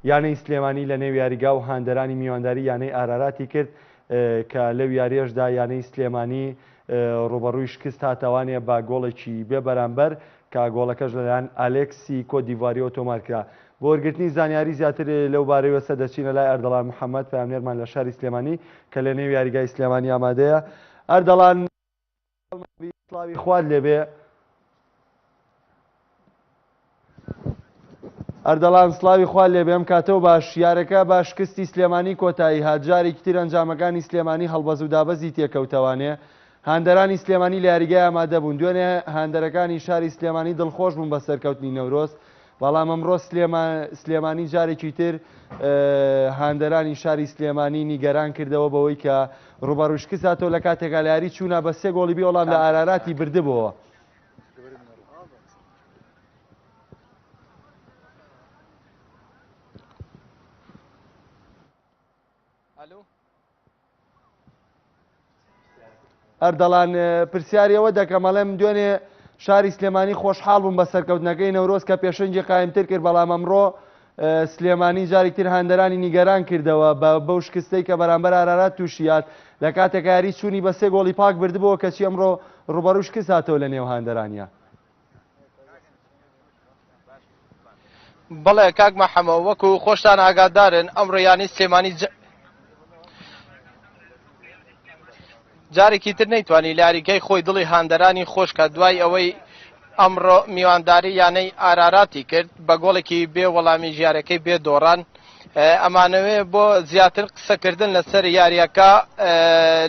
یانەی سلێمانی لەنێو یاریگا و هاندەرانی میوانداری یانەی ئاراراتی کرد کە لەو یاریەشدا یانەی سلێمانی رووبەڕووی شکست هاتەوانێ بە گۆڵێکی بێ بەرامبەر کە گۆڵەکەش لەلایەن ئالێکسی کۆت دیڤواریەوە تۆمار کرا. بۆ وەرگرتنی زانیاری زیاتر لەو بارەیوەسە دەچینە لای ئەردەڵان محەمەد پەیامنێرمان لە شاری سلێمانی کە لەنێو یاریگای سلێمانی ئامادەیە. ئەردەڵان. مەولوی سڵاوی خوات لێبێ ئەردەڵان سلاوی خوا لێ بێم کاتەوە باش یارەکە باش شکستی سلێمانی کۆتایی هات جارێکی تر ئەنجامەکانی سلێمانی هەڵبەز و دابەزی تێکەوتەوانێ هاندەرانی سلێمانی لە یاریگای ئامادەبوون دوێنێ هاندەرەکانی شاری سلێمانی دڵخۆش بوون بە سەرکەوتنی نەورۆز بەڵام ئەمڕۆ سلێمانی جارێکی تر هاندەرانی شاری سلێمانی نیگەران کردەوە بەوەی کە ڕوبەڕوو شکستاتەوە لە کاتێکا لە یاری چوونا بە سێ گۆڵی بێ وەڵام لە ئاراراتی بردبەوە. ئەردەڵان پرسیاری ئەوە دەکەم ئەڵێم دوێنێ شاری سلێمانی خۆشحاڵ بووم بە سەرکەوتنەکەی نەورۆز کە پێشەنگی قایمتر کرد بەڵام ئەمڕۆ سلێمانی جاری تر هەندەرانی نیگەران کردەوە بە بەو شکستەی کە بەرامبەر ئارارات تووشیات لە کاتێکاری چووی بە سێ گۆڵی پاک بردبووە کەچی ئەمڕۆ ڕوبەروش کساتەوە لە نێو هاندەرانە بەڵێ کاک مەحەمە وەکو خۆشتان ئاگادارن ئەم ڕیانی سلێمانی جارێکی تر نەیتوانی لاریگەی خۆی دڵی هاندەرانی خۆشکە دوای ئەوەی ئەمڕۆ میوانداری یانەی ئارارات ی کرد بە گۆڵێکی بێ وەڵامی ژارەکەی بێ دۆڕان ئەمانەوێ بۆ زیاتر قسەکردن لەسەر یاریەکە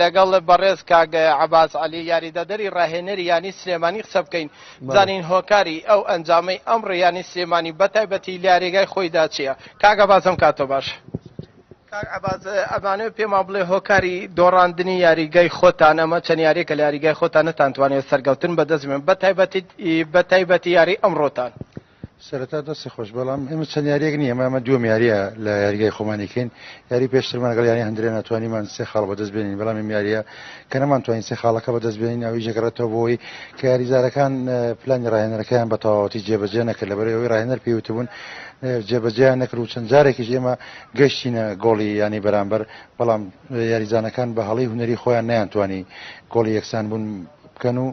لەگەڵ بەڕێز کاک عباس علی یاریدەدەری ڕاهێنەری یانی سلێمانی قسە بکەین زانین هۆکاری ئەو ئەنجامەی ئەم ڕیانی سلێمانی بەتایبەتی لارێگای خۆیدا چیە کاگە بازم کاتۆ باش. ئەمانە پێمان بڵێ هۆکاری دۆڕاندنی یاریگای خۆتان ئەمە چەند یاریکە لە یاریگای خۆتان نەتانتوانێت سەرگەوتن بەدەستمێن بە تایبەتی بە تایبەتی یاری ئەمڕۆتان. سەرەتا دەستی خۆش بەڵام ئێمە چەند یاریەک نییە مامە دوم یاریە لە یاریگای خۆمانیکەین یاری پێشترمان لەگەڵ یانی هەندرێ ناتوانیمان سێ خاڵ بەدەست بێنین بەڵام ئەم یاریە کە نەمانتوانین سێ خاڵەکە بەدەست بێنین ئەوی ژەگەڕێتەوە بۆی کە یاریزارەکان پلانی ڕاهێنەرەکەیان بە تەواوەتی جێبەجێ نەکرد لەبەر ئەوەی ڕاهێنەر پێوتبوون جێبەجێیان نەکرد و چەند جارێکیش ئێمە گەشتینە گۆڵی ینی بەرامبەر بەڵام یاریزانەکان بە هەڵی هوەری خۆیان نیانتوانی گۆڵی یەکسان بوون بکەن و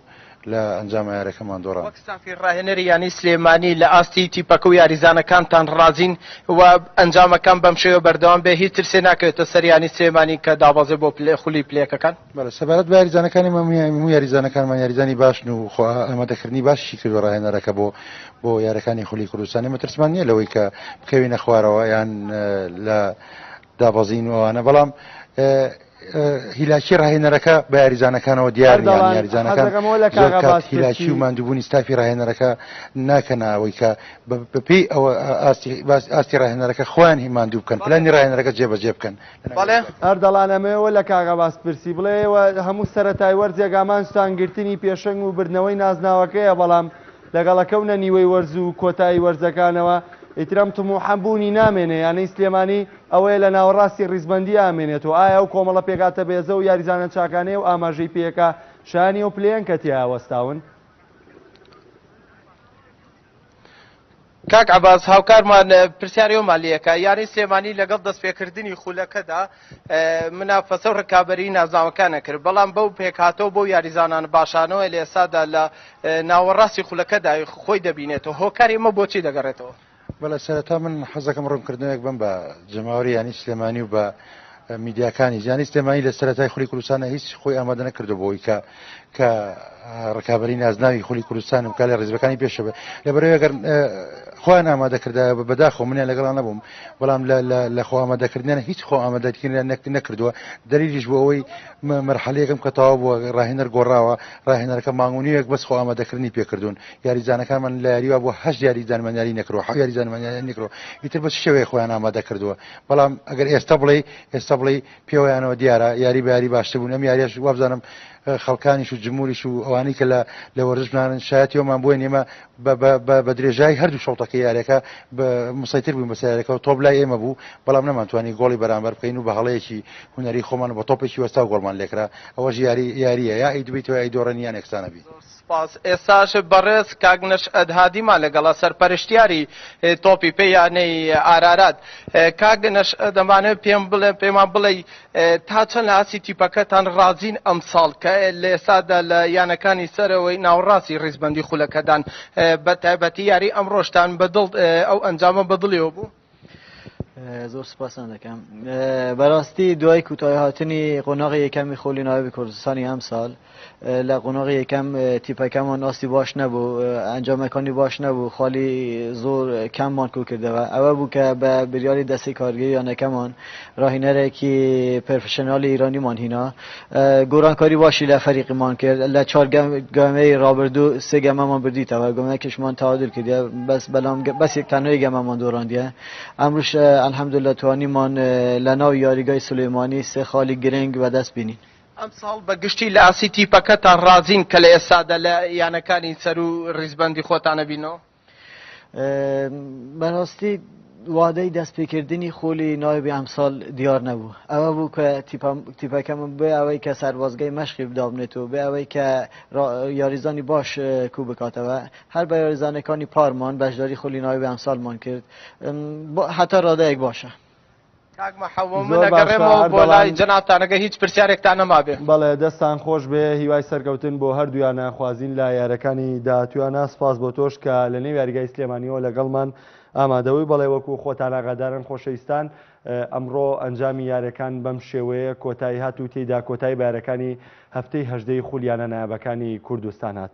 لە ئەنجام ئەیارەکەمان دۆڕاند. وەک ستافی راهێنەری یانەی سلێمانی لە ئاستی تیپەکە و یاریزانەکانتان رازین و ئەنجامەکان بەم شێوە بەردەوام بێ هیچ ترسێ ناکەوێتە سەر یانەی سلێمانی کە دابەزێ بۆ خولی پلە یەکەکان؟ بەڵێ سەبارەت بە یاریزانەکانیمان هەموو یاریزانەکانمان یاریزانی باشن و خۆ ئامادەکردنی باشیشی کردووە راهێنەرەکە بۆ بۆ یارەکانی خولی کوردستان ئێمە ترسمان نییە لەوەی کە بکەوینە خوارەوە یان لە دابەزین و ئەوانە بەڵام هیلاکی ڕاهێنەرەکە بە یاریزانەکانەوە دیار یاریزانەکان هیلاکی و مادوبوونی ستافی ڕاهێنەرەکە ناکەنەوەی کە بەپی ئەوە ئاستی ڕاهێنەرەکە خوان هی مادوو بکەن پلانی ڕاهێنەرەکە جێبەجێ بکەن هەردەڵانەمەوە لە کاغەباس پرسی بڵێەوە هەموو سەرەتای وەرزێگامانستان گرتنی پێشنگ و بردنەوەی نازناوەکەیە بەڵام لەگەڵ کەونە نیوەی وەرز و کۆتایی وەرزەکانەوە ئیتر ئەم تموحە بوونی نامێنێ، یانەی سلێمانی ئەوەیە لە ناوەڕاستی ڕیزبەندییە ئەمێنێت و ئایا ئەو کۆمەڵە پێکهاتە بێزە و یاریزانە چاکانەی ئەو ئاماژەی پێیەکا شایانی ئەو پلەیەن کە تیایا وەستاون؟ کاک عەباس هاوکارمان پرسیاری ئەومان لێکە یانەی سلێمانی لەگەڵ دەستپێکردنی خولەکەدا منافەسە و ڕکابەری نازناوەکانە کرد بەڵام بەو پێکهاتەوە بۆ یاریزانان باشانەوە لە ئێسادا لە ناوەڕاستی خولەکەدا خۆی دەبینێتەوە هۆکاری ئمە بۆچی دەگەڕێتەوە بەڵێ سەرەتا من حەزەکەم ڕوونکردنەوەک بم بە جەماوەری یانی سلێمانی و بە میدیاکانی جانی سلێمانی لە سەرەتای خولی کوردستان هیچ خۆی ئامادە نەکردو بۆی کە کە ڕکابی نازناوی خولی کوردستان و کالی ڕێزبەکانی پێشە بێت لە بەرەوەگەر خۆیان ئامادەکردا بە بەداخۆ منیان لەگەڵان نەبووم بەڵام لە خۆ ئامادەکردنیان هیچ خۆ ئامادەکردیان نەکردووە دەریش بۆ ئەوەی مەرحەلەیەکم کە تەوا بووە ڕاهێنەر گۆڕاوە ڕاهێنەرەکە مانگونیەک بەس خۆ ئامادەکردنی پێکردوون یاریزانەکانمان لە یاریوا بۆ هەش یاری دانمانیاری نەکرۆ حە یاری دانمانیان نکرۆ ئیتر بە شێوەیە خۆیان ئامادە کردووە بەڵام ئەگەر ئێستا بڵێی ئێستا بڵێی پێوەیانەوە دیارە یاری بە یاری باشتر بوون ئەم یاریش وابزانم خەڵکانیش و جمهوریش و ئەوانەی کە لە لە وەرزشمانن شایەتیەوەمان بۆی نێمە بە درێژایی هەردوو شەڵتەکە یارەکە مسەیتر بووین بەسیارەکەەوە تۆپ لای ئێمە بوو بەڵام نەمانتوانی گۆڵی بەرامبەر بکەین و بە هەڵەیەکی هوەری خۆمان بە تۆپێکی وەستا گۆڵمان لێکرا ئەوەش یاری یاریە یا ئەی دوبیتەوە ئەی دۆڕێن یان ئەکسانەبی سپاس. ئێستاش بەڕێز کاک نەشئەت هادیمان لەگەڵە سەرپەرشتیاری تۆپی پێ یانەی ئارارات. کاک نەشئەت دەمانەوێت پێم بڵێ پێمان بڵێی تا چەند لە ئاستی تیپەکەتان ڕازین ئەمساڵ کە لە ئێستادا لە یانەکانی سەرەوەی ناوەڕاستی ڕیزبەندی خولەکەدان بە تایبەتی یاری ئەمڕۆشتان بە دڵ ئەو ئەنجامە بە دڵیەوە بوو؟ زۆر سپاسان دەکەم بەڕاستی دوای کوتای هاتنی قۆناغی یەکەمی خۆلی ناوی کوردستانی ئەم ساڵ لە قۆناغی یەکەم تیپەکەمان ئاستی باش نەبوو ئەنجامەکانی باش نەبوو خالی زۆر کەممان کو کردەوە ئەوە بوو کە بە بریاری دەستی کارگەیانەکەمان راهینەرێکی پرفشنالی ایرانیمان هینا گۆڕانکاری باشی لە فەریقمان کرد، لە چوار گەمەی رابردوو سێ گەمەمان بردیتەوە، گەمەیەکیشمان تەعادول کردیە، بەڵام بەس تەنها یەک گەمەمان دۆڕاندیە، ئەمڕۆش الحمدللە توانیمان لە ناو یاریگای سولەیمانی سێ خاڵی گرنگ بەدەست بێنین. ئەمساڵ بە گشتی لە ئاستی تیپەکەتان رازین کە لە ئێستادا لە یانەکانی سەروو ریزبەندی خۆتانە بینەوە؟ بەڕاستی وادەی دەستپێکردنی خولی نایبی ئەمساڵ دیار نەبوو ئەوە بوو کە تیپەکەم بێ ئەوەی کە سەربازگەی مەشقی بدابنێت و بێ ئەوەی کە یاریزانی باش کو بکاتەوە هەر بە یاریزانەکانی پارمان بەشداری خولی نایبی ئەمساڵمان کرد هەتا ڕادەیەک باشە. کاک محمد من ئەگەڕێمەوە بۆ لای جەنابتان ئەگەر هیچ پرسیارێکتان نەمابێ. بەڵێ دەستان خۆش بێ هیوای سەرکەوتن بۆ هەردوویانە خوازین لە یارەکانی داهاتویانە سپاس بۆ تۆش کە لە نێو یاریگای سلێمانیەوە لەگەڵمان ئامادەوەی بەڵێ وەکو خۆتان ئاغادارن خۆشەویستان ئەمڕۆ ئەنجامی یارەکان بەم شێوەیە کۆتایی هات و تێیدا کۆتایی بارەکانی هەفتەی هەژدەی خولیانە نایابەکانی کوردستان هات.